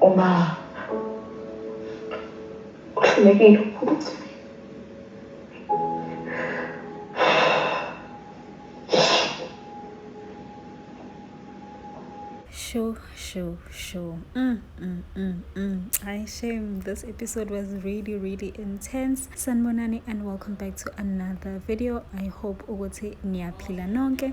Uma uhlulekile ukuthi show, show, show. Mm, mm, mm, mm. I shame. This episode was really, really intense. Sanbonani and welcome back to another video. I hope ukuthi niyaphila nonke.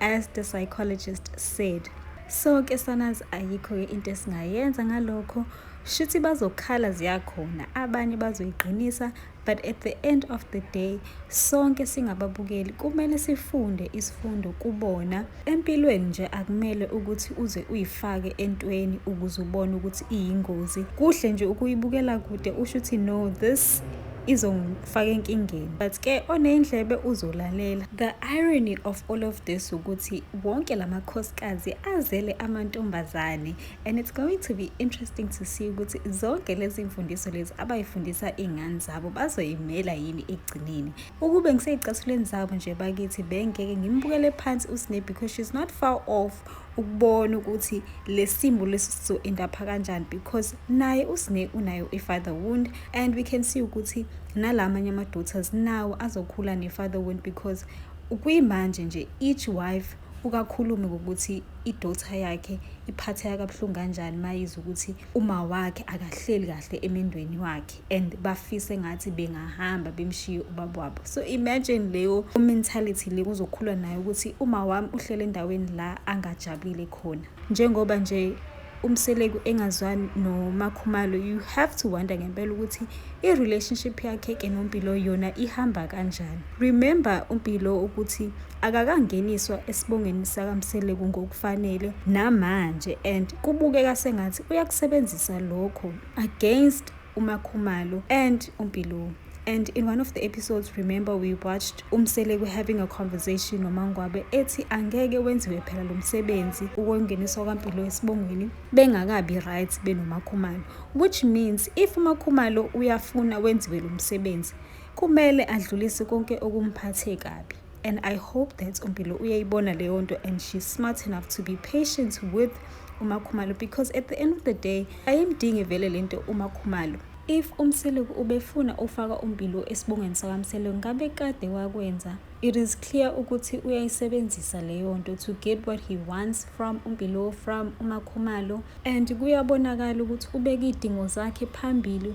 as the psychologist said so ke sanazi ayikho ke into esingayenza ngalokho shuthi bazokhala ziyakhona abanye bazoyiqinisa but at the end of the day sonke singababukeli kumele sifunde isifundo kubona empilweni nje akumele ukuthi uze uyifake entweni ukuze ubone ukuthi iyingozi kuhle nje ukuyibukela kude usho ukuthi no this izong faka enkingeni but ke oneyindlebe uzolalela the irony of all of this ukuthi wonke lamakhosikazi azele amantombazane and it's going to be interesting to see ukuthi zonke lezi mfundiso lezi abayifundisa iy'ngane zabo bazoyimela yini ekugcineni ukube ngiseyicathuleni zabo nje bakithi bengeke ngimbukele phansi usne because she's not far off ukubona ukuthi lesimbo lesi sizo endapha kanjani because naye usne unayo i father wound and we can see ukuthi nalamanye ama daughters nawo azokhula ne father wound because kuyimanje nje each wife ukakhulume ngokuthi idota yakhe iphatheka kabuhlungu kanjani mayiza ukuthi uma wakhe akahleli kahle emendweni wakhe and bafise ngathi bengahamba bemshiye ubaba wabo so imagine leyo mentality le kuzokhulwa nayo ukuthi uma wami uhlele endaweni la angajabulile khona njengoba nje umseleku engazwani nomakhumalo you have to wonder ngempela ukuthi i-relationship yakhe ke nompilo yona ihamba kanjani remember umpilo ukuthi akakangeniswa esibongeni sakamseleku ngokufanele namanje and kubukeka sengathi uyakusebenzisa lokho against uMakhumalo and uMpiloo. And in one of the episodes, remember we watched uMseleku having a conversation noMangwabe ethi angeke wenziwe phela lo msebenzi ukongeniswa kwaMpilo esibongweni bengakabi right benoMakhumalo. Which means if uMakhumalo uyafuna wenziwe lo msebenzi kumele adlulise konke okumphathe kabi. and i hope that umpilo uyayibona leyo nto and she's smart enough to be patient with umakhumalo because at the end of the day ayimdingi vele le nto umakhumalo if umseleku ubefuna ufaka umpilo esibongweni sakamseleku ngabe kade wakwenza it is clear ukuthi uyayisebenzisa leyo nto to get what he wants from umpilo from umakhumalo and kuyabonakala ukuthi ubeka iy'dingo zakhe phambili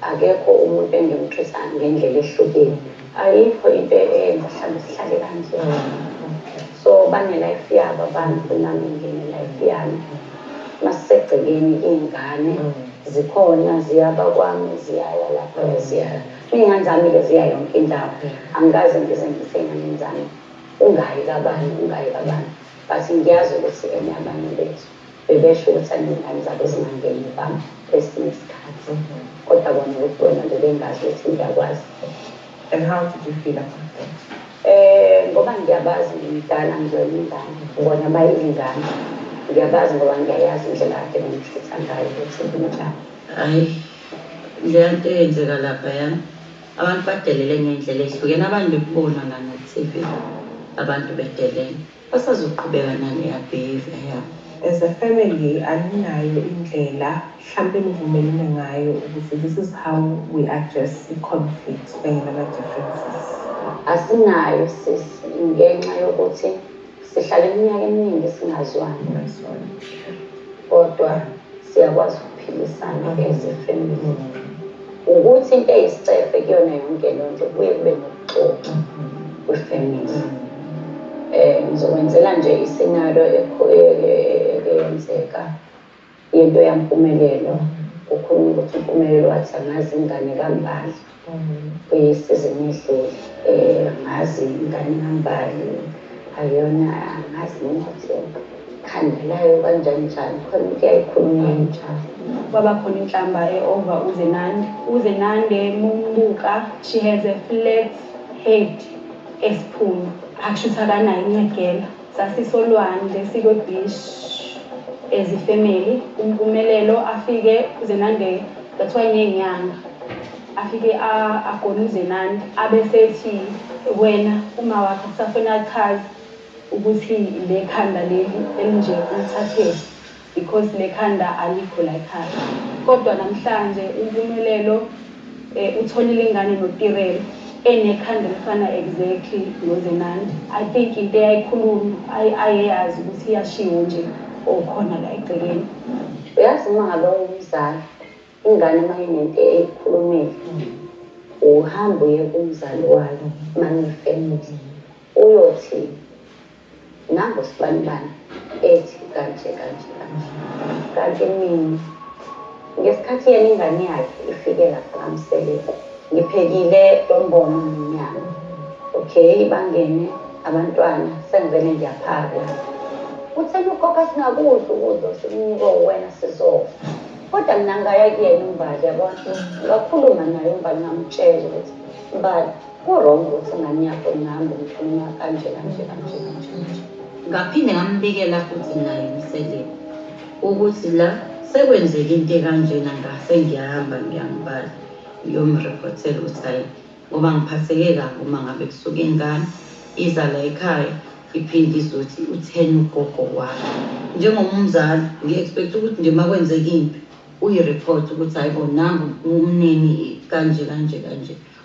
Akekho umuntu engimthusa ngendlela ehlukile. Ayikho into eyenza mhlambe sihlale kanje. So bane life yabo abantu nami ngine life yami. Masisegcekeni iyngane zikhona ziyaba kwami ziyaya lapho eziyaya. Iyngane zami ke ziya yonke indawo. Angikaze ngize ngise eyngane zami ungayi kabani ungayi kabani but ngiyazi ukuthi eneyabanye bethu. Bebesho ukuthi anezingane zabo zingangeni ba kwesinye isikhathi kodwa bona ngobuwena bebengazi ukuthi ngiyakwazi And how did you feel about that? Eh ngoba ngiyabazi ngimdala ngizoyela ingane bona bayizingane ngiyabazi ngoba ngiyayazi indlela kade ngimhlutha ngayo ukuthi kunjani hayi le nto eyenzeka lapha ya abantu badelele ngey'ndlela ey'hlukene abantu bekubona la na-T_V abantu bedelele Basazoqhubeka naleya behavior yabo. As a family aninayo indlela hlampe nivumelene ngayo ukuthi this is how we address i conflict kanye nama differences. Asinayo sis ngenxa yokuthi sihlale iminyaka eminingi singazwani kodwa. Siyakwazi ukuphilisana as a family. Ukuthi into eyisicefe kuyona yonke le nto kuye kube nokuxoxa kwi-family. Eh, ngizokwenzela nje isinalo eyenzeka yento yampumelelo. Kukhulunywa ukuthi uMpumelelo wathi angazi ingane kaMbali. Kuyisizini edlule angazi ingane kaMbali ayona angazi nokuthi ikhandelayo kanjani njani khona into eyayikhulunywa injalo. Kwaba khona inhlamba e-over uZenande. UZenande mumbuka she has a flat head esiphunu akushuthi akanayo incegela. Sasisolwandle sikwe beach as a family. UMpumelelo afike uZenande that's why ngenyanga afike agone uZenande abesethi wena uma wakho kusafuna achaze ukuthi le khanda leli elinje ulithathephi. Because nekhanda alikho layikhaya. Kodwa namhlanje uMpumelelo eh, utholile ingane noTirel enekhanda elifana exactly noZenandi. I think into eyayikhuluma ay- ayeyazi ukuthi iyashiwo nje okhona la egcekeni. Uyazi uma ngabe ungumzali ingane uma inento eyikhulumile uhamba uye kumzali wayo uma niyifamily uyothini Nangu usibanibani ethi kanje kanje kanje. Kanti mina ngesikhathi yena ingane yakhe ifike lapha kaMseleku ngiphekile lombono nomnyama. Okay bangene abantwana sengivele ngiyaphaka. Kutheni ukhokha singakudla ukudla osikunikwe uwena sizofa. Kodwa mina ngaya kuyena uMbali yabona ngakhuluma naye uMbali ngamtshela ukuthi Mbali. Kurong ukuthi ingane yakho ingahambe umthumela kanje kanje kanje kanje kanje. Ngaphinde ngambikela futhi naye umseleni ukuthi la sekwenzeka into ekanjena ngase ngiyahamba ngiyangibala ngiyomreportela ukuthi hayi ngoba ngiphatheke kabi uma ngabe kusuke ingane iza la ekhaya iphinde izothi utheni ugogo wakho njengomzali ngi-expect ukuthi nje uma kwenzeka impi uyi-report ukuthi hayi bo nangu umnini kanje kanje kanje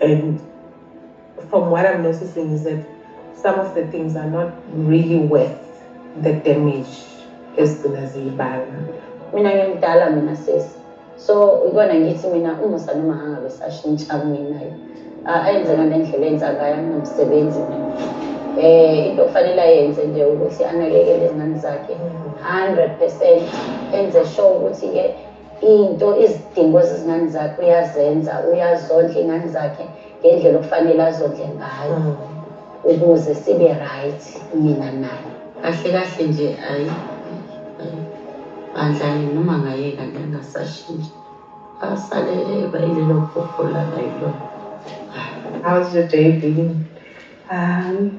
And from what I'm noticing is that some of the things are not really worth the damage ezigcina ziyibanga mina ngimdala mina sesi so ikona ngithi mina umusa noma angabe sashintsha minayo ayenze ngale ndlela enza ngayo anomsebenzi mina um eh, into okufanele ayenze nje ukuthi anakekele izingane zakhe hundred percent enze sure ukuthi-ke into izidingo zezingane zakhe uyazenza uyazondla iy'ngane zakhe ngendlela okufanele azondle ngayo mm. ukuze sibe right mina naye kahle kahle nje ayi bandlani noma ngayeka nje angasashintshi asale eba yilelo phupho lala yilona How's your day been? Um,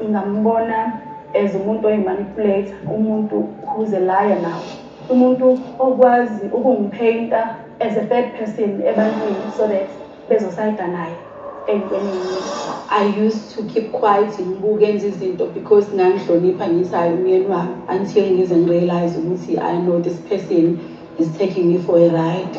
Ngingambona as umuntu oyimanipulate umuntu who's a liar now umuntu okwazi ukungipheyinta as a third person ebantwini so that bezosayida naye entweni i used to keep quiet ngibuke enza izinto because ngangihlonipha ngithi hayi umyeni wami until ngize ngirealize ukuthi i know this person is taking me for a ride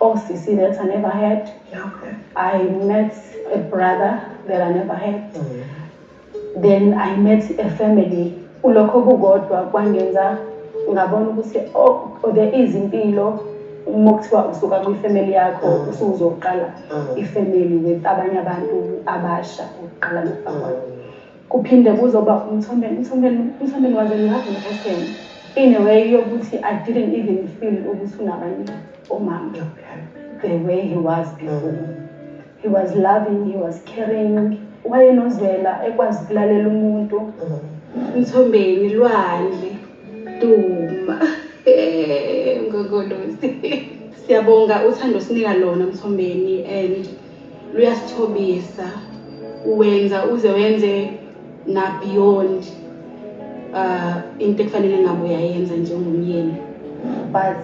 OCC that I never had. Okay. I met a brother that I never had. Mm. Then I met a family. Ulokho kukodwa kwangenza ngabona ukuthi oh, oh there is impilo uma kuthiwa usuka kwifamily yakho mm. usuzoqala mm. ifamily with abanye abantu abasha ukuqala nokufakwa. Mm. Kuphinde kuzoba umthomeni umthomeni umthomeni waze ngazi ngesene in a way yokuthi I didn't even feel ukuthi unabanye omama the way he was before he was loving he was caring wayenozwela ekwazi ukulalela umuntu umthombeni lwandle duma ngokolosi siyabonga uthando sinika lona mthombeni and luyasithobisa uwenza uze wenze na beyond uh into ekufanele ngabe uyayenza njengomyeni but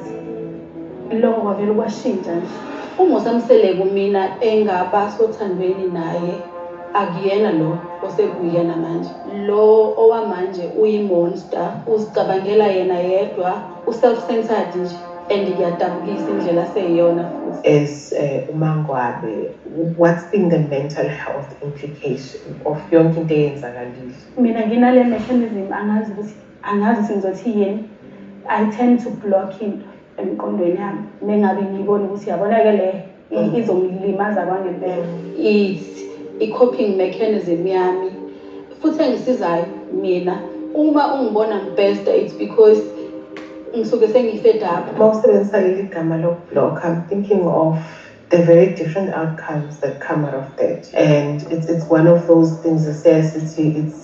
lokho kwavele kwashintsha nje umosamseleko mina engaba sothandweni naye akuyena lo osekuyena manje lo owamanje uyimonster uzicabangela yena yedwa U self centered nje and kuyadabukisa indlela aseyiyona futhi. As uh, uMangwabe what's been the mental health implication of yonke into eyenzakalile? Mina nginale mechanism angazi ukuthi angazi singizothi yini. I tend to block into emqondweni yami mengabe ngiyibona ukuthi yabona ke le i- izongilimaza kwangempela. Is i-coping mechanism yami futhi engisizayo mina uma ungibona ngibhesta it's because ngisuke sengifed up Uma usebenzisa leli gama lokublock, I'm thinking of the very different outcomes that come out of that. And it's, it's one of those things that says it's, it's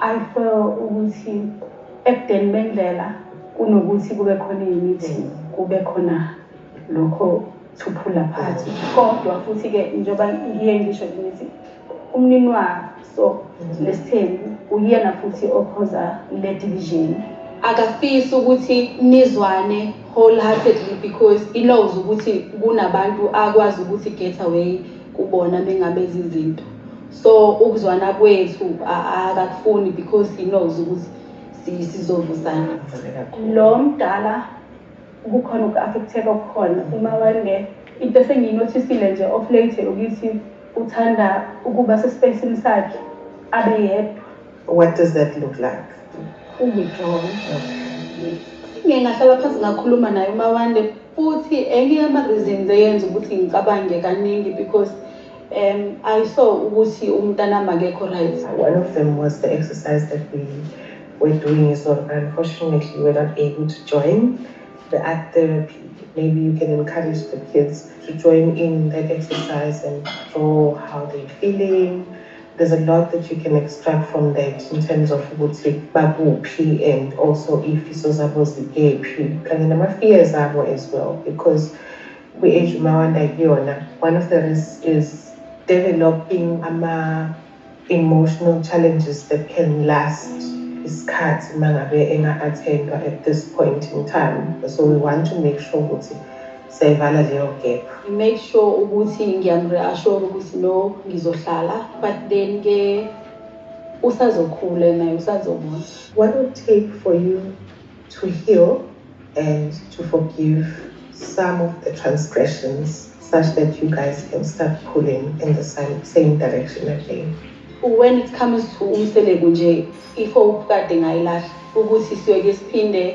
I feel ukuthi ebudeni bendlela kunokuthi kube khona imithi kube khona lokho thuphula phathi kodwa futhi-ke njengoba ngiye ngisho ngithi umnini waso lesithembu uyena futhi okhoza le division akafisi ukuthi nizwane wholeheartedly because he knows ukuthi kunabantu akwazi ukuthi get away kubona mengabe zizinto so ukuzwana kwethu akakufuni because he knows ukuthi sizovusana lo mdala kukhona uku-affecteka okukhona uma wende into esengiyinothisile nje of late ukuthi uthanda ukuba sesipesini sakhe abe yedwa What does that look like? Uwithdraw. Ngike ngahlala phansi ngakhuluma naye uMawande futhi enye yama-reasons eyenza ukuthi ngicabange kaningi because um I saw ukuthi umntanami akekho right. One of them was the exercise that we were doing is not unfortunately we were not able to join the art therapy. Maybe you can encourage the kids to join in that exercise and draw how they're feeling. There's a lot that you can extract from that in terms of ukuthi bakuphi and also iy'fiso zabo zikephi kanye nama-fears abo as well because kwi-age umawanda kuyona one of the risks is developing ama-emotional challenges that can last isikhathi uma ngabe enga-attendwa at this point in time so we want to make sure ukuthi sayivala leyo gap. I made sure ukuthi ngiyamreassure ukuthi no ngizohlala but then ke usazokhula naye usazobona. What would take for you to heal and to forgive some of the transgressions such that you guys can start pulling in the same, same direction again. When it comes to umseleku nje ifo kade ngayilahla ukuthi siyoke siphinde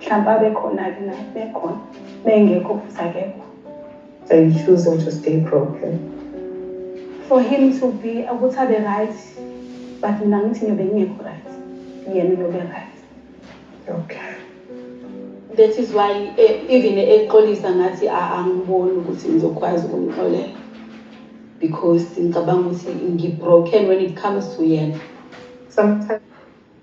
mhlawumbe abekhona-ke na bekhona bengekho futhi akekho so you choose to stay broken for him to be ukuthi abe right but mina ngithi ngiyobe ngingekho right yena uyobe right okay that is why eh, even exolisa ngathi angiboni ukuthi ngizokwazi ukumxolela because ngicabanga ukuthi ngi-broken when it comes to yena sometimes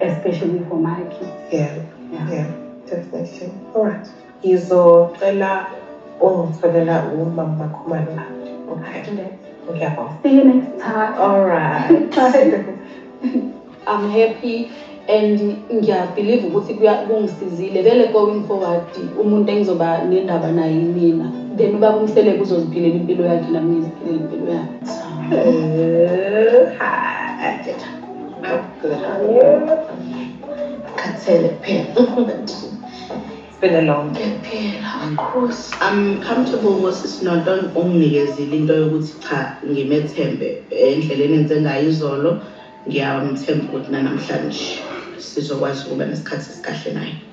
especially for my kids yeah yeah, yeah. definitely all right ngizocela ungitholela umama bakhumalo lapho okay ngiyabonga see you next time all right i'm happy and ngiyabhiliva ukuthi kungisizile vele going forward umuntu engizoba nendaba naye mina then uba kumsele kuzoziphilela impilo yakhe nami ngiziphilela impilo yakhe eh, Khathele kuphela. It's been a long day. Kuphela, Nkosi. I'm comfortable ngosisi Norton unginikezile into yokuthi cha ngimethembe endleleni enze ngayo izolo ngiyamthemba ukuthi nanamhlanje sizokwazi ukuba nesikhathi esikahle naye.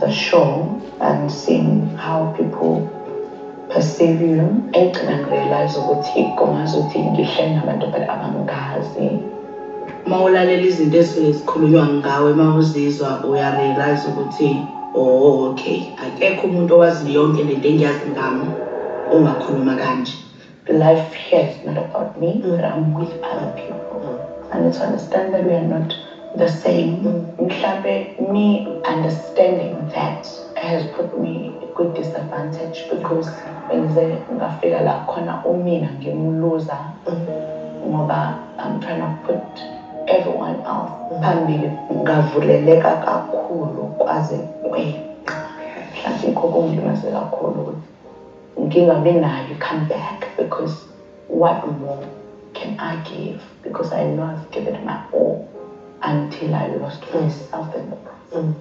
the show and seeing how people perceive you egcina ngirealize ukuthi kungazi ukuthi ngihleli nabantu but abangazi uma ulalela izinto ezisuke zikhulunywa ngawe uma uzizwa uyarealize ukuthi oh okay akekho umuntu owazi yonke lento engiyazi ngami ongakhuluma kanje Life here is not about me, mm. but I'm with other people. Mm. And to understand that we are not the same. Mm. me understanding that has put me good disadvantage because bengize ngafika la khona umina ngimuluza ngoba I'm trying to put everyone else phambili ngavuleleka kakhulu kwaze kwe mhlawumbe ikho kungilimaze kakhulu ngingabi nayo i-come back because what more can I give because I know I've given my all until I lost myself in the process. Mm.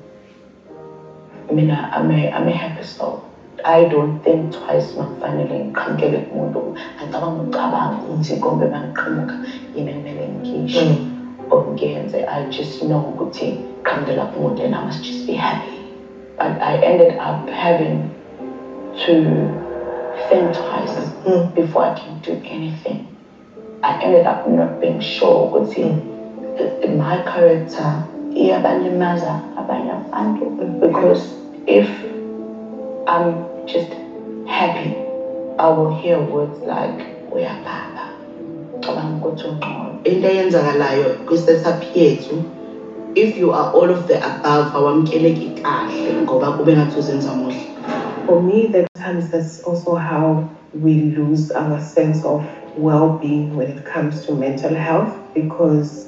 I mean, I, I'm, a, I'm a happy soul. I don't think twice makufanele ngiqhamukele kumuntu ngicabanga ucabanga ukuthi kombe mangiqhamuka yini kumele ngikhishwe mm. or ngiyenze I just know ukuthi qhamukela kumuntu and I must just be happy but I ended up having to think twice before I can do anything. I ended up not being sure ukuthi my character iyabalimaza abanye abantu because if I'm just happy, I will hear words like uyababa. Ucabanga ukuthi ungcono. Into eyenzakalayo kwi-setup yethu if you are all of the above awamkeleki kahle ngoba kube ngathi uzenza muhle. For me that times that's also how we lose our sense of well-being when it comes to mental health because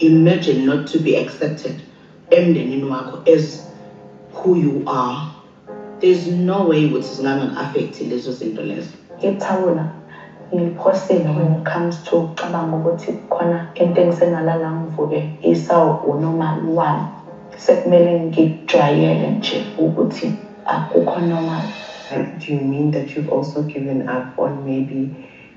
imagine not to be accepted emndenini wakho as who you are there's no way ukuthi zingangak-affekthi lezo zinto lezo ithawula ngiphosile when it comes to ucabanga ukuthi khona into engisengalala ngivuke isawu unomali wami sekumele ngikujwayele nje ukuthi akukho normal do you mean that you've also given up on maybe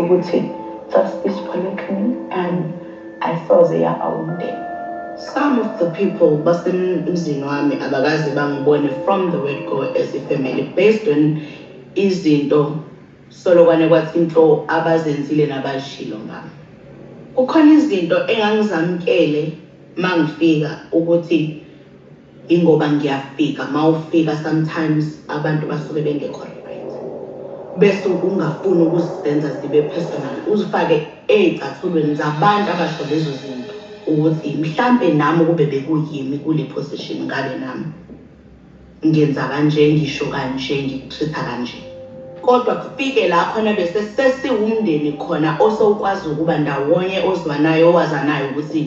ukuthi just this one clean and ayisoze yaba umndeni some of the people basemzini wami abakaze bangibone from the word go as a family based on izinto solokwane kwathi into abazenzile nabashilo ngami kukhona izinto engangizamkele mangifika ukuthi Ingoba ngiyafika mawufika sometimes abantu basuke bengekho right. Bese ungafuni ukuzenza zibe personal. Uzifake ezicathulweni zabantu abasho lezo zinto ukuthi mhlambe nami kube bekuyimi kule position ngabe nami ngenza kanje ngisho kanje ngikutreat-a kanje. Kodwa kufike la khona bese sesiwumndeni khona osowukwazi ukuba ndawonye ozwanayo owazanayo ukuthi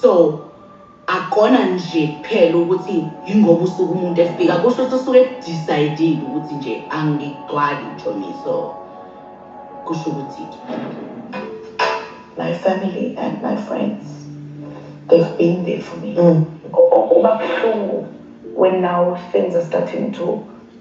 so akona nje kuphela ukuthi yingoba usuke umuntu efika kusho ukuthi usuke edecidile ukuthi nje angigcwali njomi so kusho ukuthi my family and my friends they've been there for me mm. kuba buhlungu when now things are starting to